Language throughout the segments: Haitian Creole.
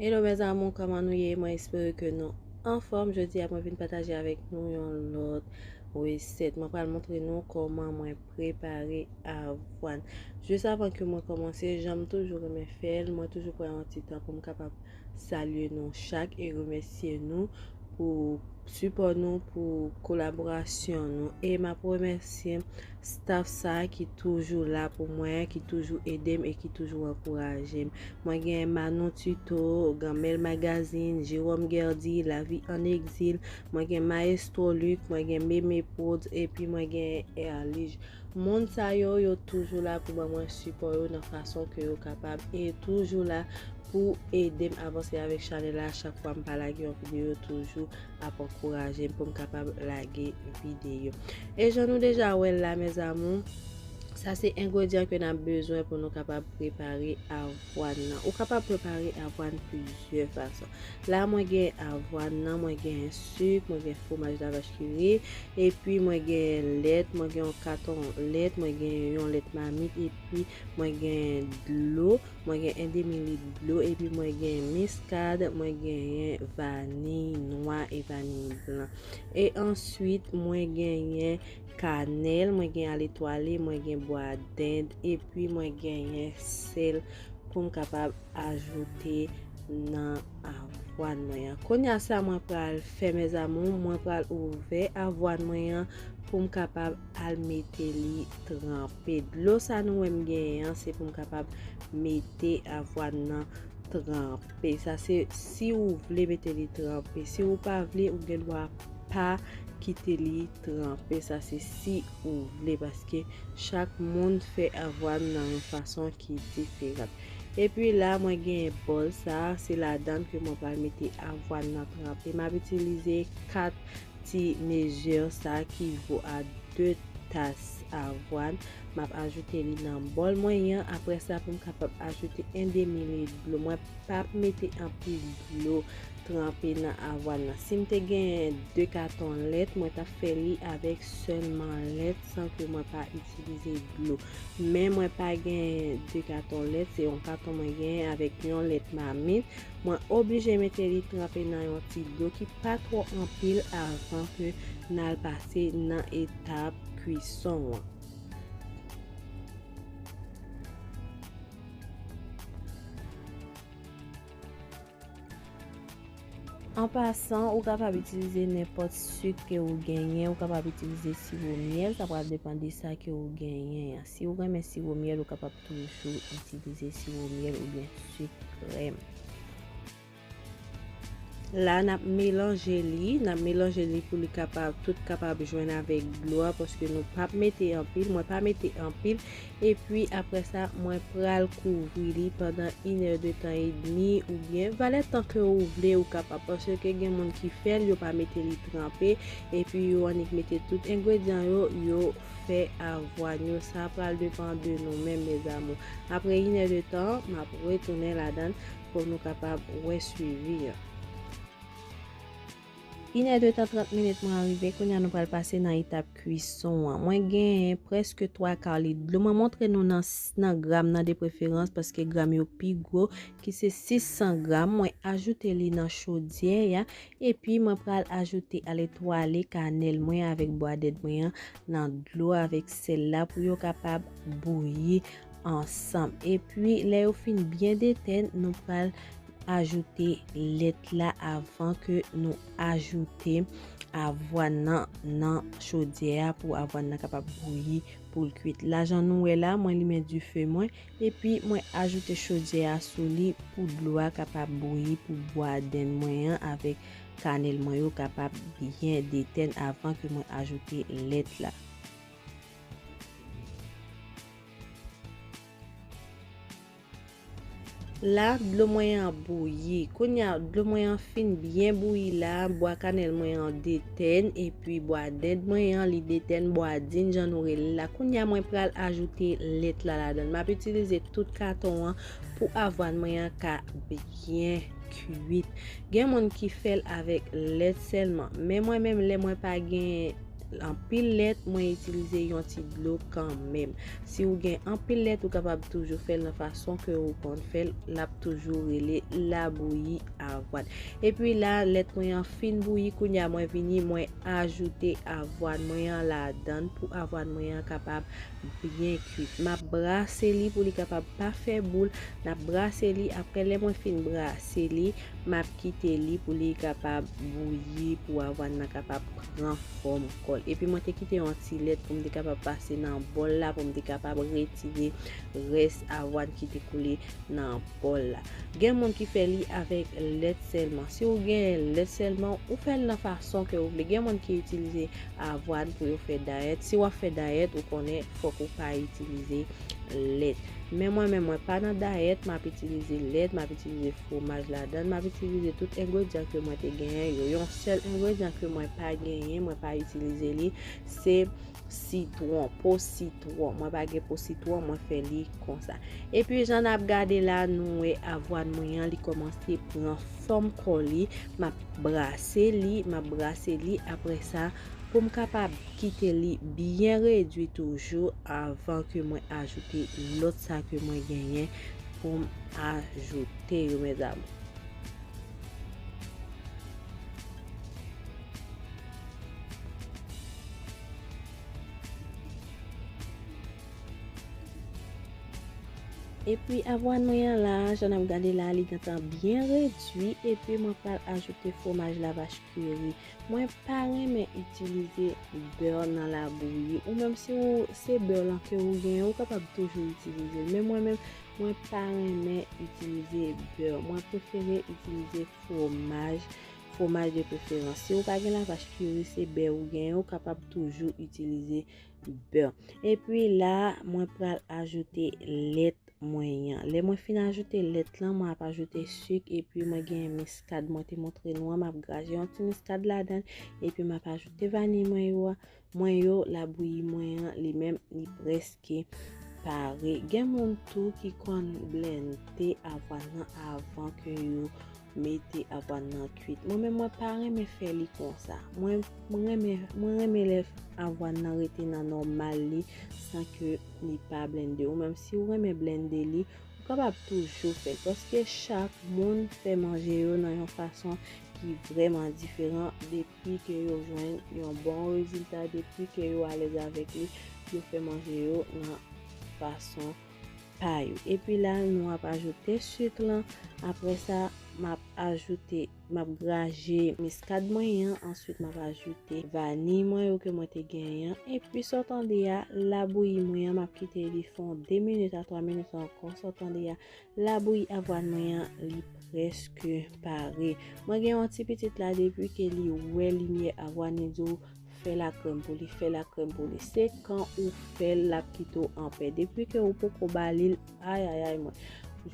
Hello mes amours kòman nou ye mwen espere ke nou anfòm jodi a mwen vin pataje avèk nou yon lòt resèt mwen pral montre nou kòman mwen prepare avwàn jis avan ke mwen kòmanse janm toujou remen fèl mwen toujou pran yon ti tan pou m kapab salye nou chak e remèsye nou pou sipò nou, pou kolaborasyon nou e map remèsye staff sa ki toujou la pou mwen, ki toujou edem e ki toujou ankourajem. Mwen gen Manou Tuto, Ganmel Magazine, Jerome Guerdy, La vie en exil, mwen gen Maestro Luc, mwen gen Meme Prodz epi mwen gen Erlige. Moun sa yo, yo toujou la pou ban mwen sipò yo nan fason ke yo kapab e toujou la. Pou edem avanse avèk chanèl la chak fwa mpa lage yon videyo toujou ap ankourajem poum kapab lage videyo. E jan nou deja wèl la mes amours sa se engredyan ke nap bezwen pou nou kapab prepare avwàn nan. Ou kapab prepare avwàn plizyè fason. La mwen gen avwàn nan, mwen gen suk, mwen gen fwomaj la vach ki ri, epi mwen gen lèt, mwen gen yon katon lèt, mwen gen yon lèt mamit epi mwen gen dlo. Mwen gen 1 demi lit dlo epi mwen gen miskad, mwen genyen vaniy nwa e vaniy blan. E answit mwen genyen kanèl, mwen gen aletwale, mwen gen bwa dend epi mwen genyen sèl poum kapab ajoute nan avwàn mwen an. Kounya sa mwen pral fè mes amours, mwen pral ouvè avwàn mwen an poum kapab. al mete li tranpe. Dlo sa nou wè m genyen an se pou m kapab mete avwàn nan tranpe. Sa se si ou vle mete li tranpe. Si ou pa vle, ou gen dwa pa kite li tranpe. Sa se si ou vle paske chak moun fè avwàn nan yon fason ki diferan. E pi la mwen genyen bòl sa, se ladan ke mwen pral mete avwàn nan tranpe. M ap itilize 4. Ti mezire sa ki vo a 2 tas avwàn, m ap ajoute li nan bòl mwen yan, apre sa pou m kapab ajoute 1 demi lit dlo, mwen p ap mete anpil dlo tranpe nan avwàn nan. Si m te genyen 2 katon lèt, mwen t ap fè li avèk sèlman lèt san ke mwen pa itilize dlo. Men mwen pa genyen 2 katon lèt, se yon katon mwen genyen avèk yon lèt mamit. Mwen oblije mete li tranpe nan yon ti dlo ki pa twò anpil avan ke nal pase nan etap kwison an. An pasan, ou kapab itilize nenpòt suk ke ou genyen, ou kapab itilize siwo myèl, sa pral depan de sa ke ou genyen an. Si ou renmen siwo myèl, ou kapab Toujou itilize siwo myèl oubyen sik krèm. La n ap melanje li, n ap melanje li pou li kapab tout kapab jwenn avèk dlo a paske nou pa p mete anpil, mwen pa mete anpil. Epi apre sa mwen pral kouvri li pandan inè de tan edmi oubyen valè tan ke ou vle ou kapab paske gen moun ki fè l yo pa mete li tranpe epi yo annik mete tout engredyan yo yo. fè avwa nou sa pral depan de nou menm mes amours aprè inè de tan map retounen ladann pou nou kapab wè swivi an. Inè de tan 30 minit mwen arive kounya nou pral pase nan etap kuison an mwen gen prèske 3 kar lit dlo mwen montre nou nan nan gram nan de preferans paske gram yo pi gro ki se 600 gram mwen ajoute li nan chodyè ya Epi mwen pral ajoute aletwale kanèl mwen avèk bwadèt mwen an nan dlo avèk sèl la pou yo kapab bouyi ansanm. Epi lè yo fin byen detèn, nou pral ajoute lèt la avan ke nou ajoute avwàn nan nan chodyè a pou avwàn nan kapab bouyi poul kwit. Lajan nou wè la, mwen limen dife mwen. Epi mwen ajoute chodyè a sou li pou dlo a kapab bouyi pou bwa dend mwen an avèk kanèl mwen yo kapab byen detèn avan ke mwen ajoute lèt la. La, dlo mwen an bouyi. Kounya dlo mwen an fin byen bouyi la, bwa kanèl mwen an detèn. Ten epi bwa dend mwen an li de ten bwa din jan nou rele la kounye a mwen pral ajoute lèt la ladann map itilize tout katon an pou avwàn mwen an ka byen kuit gen moun ki fèl avèk lèt sèlman men mwen menm lè mwen pa gen anpil lèt mwen itilize yon ti dlo kan menm si ou gen anpil lèt ou kapab toujou fèl nan fason ke ou konn fèl lap toujou rele labouyi avoine. Epi la lèt mwen an fin bouyi kounye a mwen vini mwen ajoute avoine mwen an ladan pou avoine mwen an kapab byen kuit. M ap brase li pou li kapab pa fè boul. N ap brase li apre lè mwen fin brase li m ap kite li pou li kapab bouyi pou avoine nan kapab pran fòm kò l. Epi mwen te kite yon ti lèt pou m te kapab pase nan bòl la pou m te kapab retire rès avoine ki te koule nan bòl la. Gen moun ki fè li avèk lèt sèlman. Si ou gen lèt sèlman, ou fè l nan fason ke ou vle. Gen moun ki itilize avwàn pou yo fè dayèt. Si wap fè dayèt, ou konnen fòk ou pa itilize lèt. Men mwen menm, mwen pa nan dayèt, map itilize lèt, map itilize fwomaj ladan l, map itilize tout engredyan ke mwen te genyen yo. Yon sèl engredyan ke mwen pa genyen, mwen pa itilize li, se sitwon po sitwon mwen pa gen po sitwon mwen fè li konsa epi jan n ap gade la nou wè avwàn mwen an li kòmanse pran fòm kò li m ap brase li m ap brase li apre sa pou m kapab kite li byen redwi toujou avan ke mwen ajoute lòt sa ke mwen genyen pou m ajoute yo mèzamou. Epi avwàn mwen an la, jan nap gade la li gentan byen redwi epi mwen pral ajoute fwomaj lavach kiri. Mwen pa renmen itilize bè nan labouyi ou menm si ou se bè lan ke ou gen ou kapab toujou itilize l men mwen menm mwen pa renmen itilize bè mwen prefere itilize fwomaj Fwomaj de preferans. Si ou pa gen lavach kiri se bè ou genyen ou kapab toujou itilize bè. Epi la mwen pral ajoute lèt mwen an. Lè mwen fin ajoute lèt lan mwen ap ajoute suk epi mwen genyen miskad mwen te montre nou an map graje yon ti miskad ladan epi map ajoute vaniy mwen yo a. Mwen yo labouyi mwen an li menm li preske pare gen moun tou ki konn blende avwàn nan avan ke yo mete avwàn nan kwit mwen menm mwen pa renmen fè li konsa mwen renmen mwen renmen lè avwàn nan rete nan nòmal li san ke li pa blende ou menm si ou renmen blende li ou kapab toujou fèl paske chak moun fè manje yo nan yon fason ki vrèman diferan depi Depi ke yo jwenn yon bon rezilta, depi ke yo alèz avèk li, yo fè manje yo nan fason pa yo. Epi la, nou ap ajoute suk lan. Apre sa, m ap ajoute, m ap graje miskad mwen an. Answit, m ap ajoute vaniy mwen yo ke mwen te genyen an. Epi, sa w tande a, labouyi mwen an, m ap kite li fon 2 minit a 3 minit ankò. Sa w tande a. Labouyi avwàn mwen an li preske pare. Mwen gen yon ti pitit la depi ke li wè limyè avwàn li di w fè lakrèm pou li fè lakrèm pou li se kan ou fèl lap kite w anpè depi ke ou poko ba li l ayayay mwen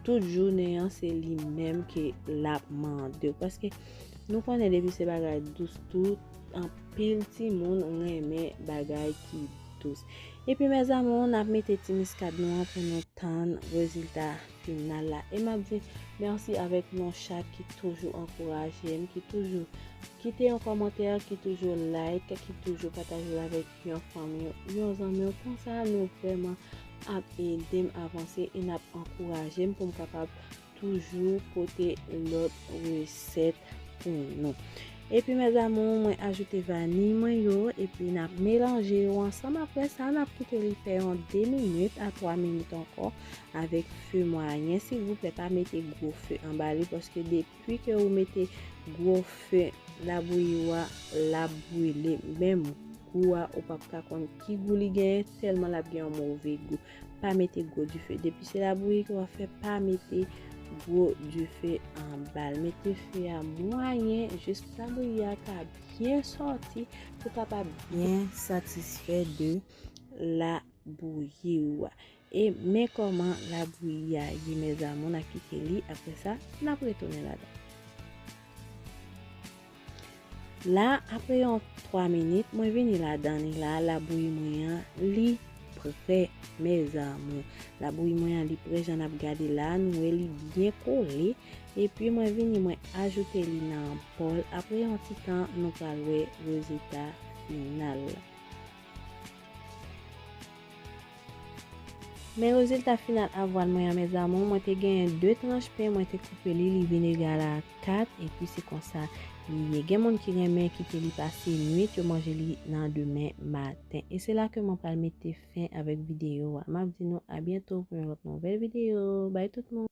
tout jounen an se li menm ke lap mande w paske nou konnen depi se bagay dous tout anpil timoun renmen bagay ki dous. Epi mes amours nap mete ti miskad nou an pou nou tann rezilta final la e map di merci avek nou chak ki toujou ankourajem ki toujou kite yon kòmantè ki toujou like ki toujou patajel avek yon fanmi w yon zanmi w konsa nou vrèman ap edem avanse e nap ankourajem poum kapab toujou pote lòt resèt pou nou epi mes amours mwen ajoute vani mwen yo epi nap melanje yo ansanm aprè sa nap kite li fè yon 2 minit a 3 minit ankò avèk feu mwayen silvouplè pa mete gwo feu anba li paske depi ke ou mete gwo feu labouyi ou a lap brile menm gou a ou pap ka konn ki gou li genyen tèlman lap gen yon move gou Pa mete gwo dife. Depi se labouyi ke w ap fè, pa mete gwo dife anba l. Mete fe a mwayen jis pou labouyi a ka byen sòti pou w kapab byen satisfè de labouyi ou a. E men kòman labouyi a ye mèzamou. N a kite li apre sa, n ap retounen ladan. La apre yon 3 minit mwen vini ladan li la labouyi mwen an li prè mes amour labouyi mwen an li prè jan nap gade la nou wè li byen kole epi mwen vini mwen ajoute li nan bòl apre yon ti tan nou pral wè rezilta final. Men rezilta final avwal mwen an mes amour, mwen te genyen 2 tranch pen mwen te koupe li li vin egal a 4 epi se konsa li ye gen moun ki renmen kite li pase nwit yo manje li nan demen maten e se la ke mwen pral mete fen avèk videyo a map di nou a byento pou yon lòt nouvèl videyo bay tout moun.